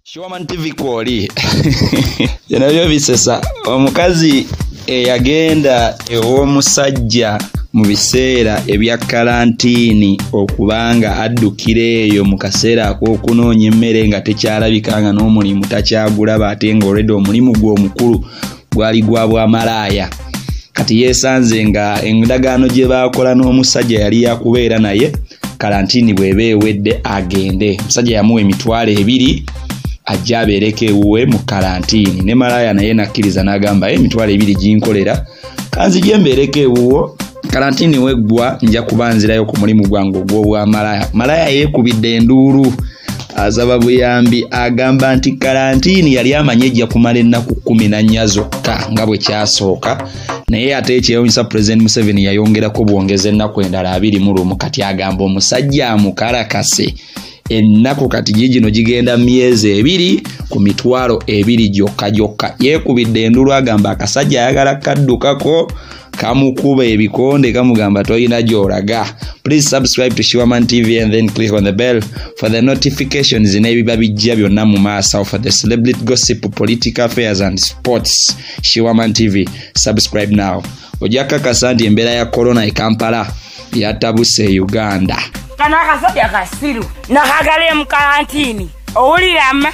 Shiwaman TV kwoli bino byo bisesa omukazi eyagenda ew'omusajja mu biseera ebya kalantiini okubanga addukira eyo mu kaseera ak'okunoonya emmere nga tekyalabika nga n'omulimu takyagulaba ate nga olwedde omulimu gwe omukulu gwali gwa bwamalaaya kati yeesanze nga endagaano gye baakola n'omusajja yali yakubeera naye kalantiini bweba ewedde agende omusajja yamuwa emitwalo ebiri ajja abeereko ewuwe mu kalantiini ne malaaya naye nakkiriza n'agamba ye emitwalo ebiri ginkolera kanzigye mbeereko ewuwo kalantiini weggwa nja kuba nzirayo ku mulimu gwange ogw'obwamalaaya malaaya yeekubidde enduulu asaba buyambi agamba nti kalantiini yali amanyi ejja kumala ennaku kumi na nnya zokka nga bwe kyasooka naye ate ekyewunyisa pulezidenti museveni yayongerako bwongeza ennaku endala abiri mu lumu kati agamba omusajja amukalakase ennaku kati gigino gigenda myezi ebiri ku mitwalo ebiri gyokka gyokka yeekubidde endulu agamba akasajja ayagala kaddukako kamukuba ebikonde kamugamba tolina gyoraga please subscribe to shiwaman tv and then click on the bell for the notifications n'ebiba bijja byonna mu maaso for the celebrity gossip political affairs and sports shiwaman tv subscribe now ojja kakasa nti embeera ya corona e kampala yatabuse e uganda kano akasajja kasiru nakagala emukalantiini owulirama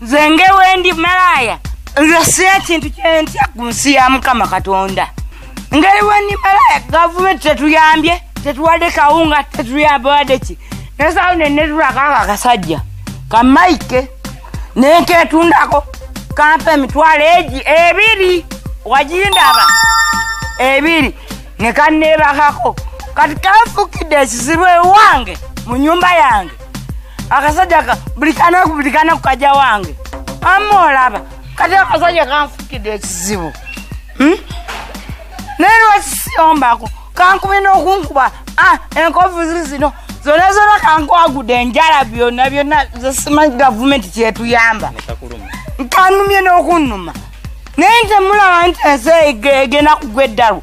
nze ngewendi malaaya nze si ekintu kyentya ku nsi ya mukama katonda ngeri wendi malaaya gavumenti tetuyambye tetuwadde kawunga tetuyambawadde ki nesawo nenetulakako akasajja kamaike neketundako kampa emitwalo egi ebiri wagindaba ebiri nekanebakako kati kanfukidde ekizibu ewange mu nyumba yange akasajja ka buli kanaku buli kanaku kaja wange amma olaba kati akasajja kanfukidde ekizibu hmm? naye lwakisiyombako kankubi nokunkuba ah, enkovuzi zino zona zona kankwagudde enjala byonna byonna zesimanyi gavumenti kyetuyamba nkanumye nokunnuma naye ntemulaba nti ensi egenda kugwa eddalu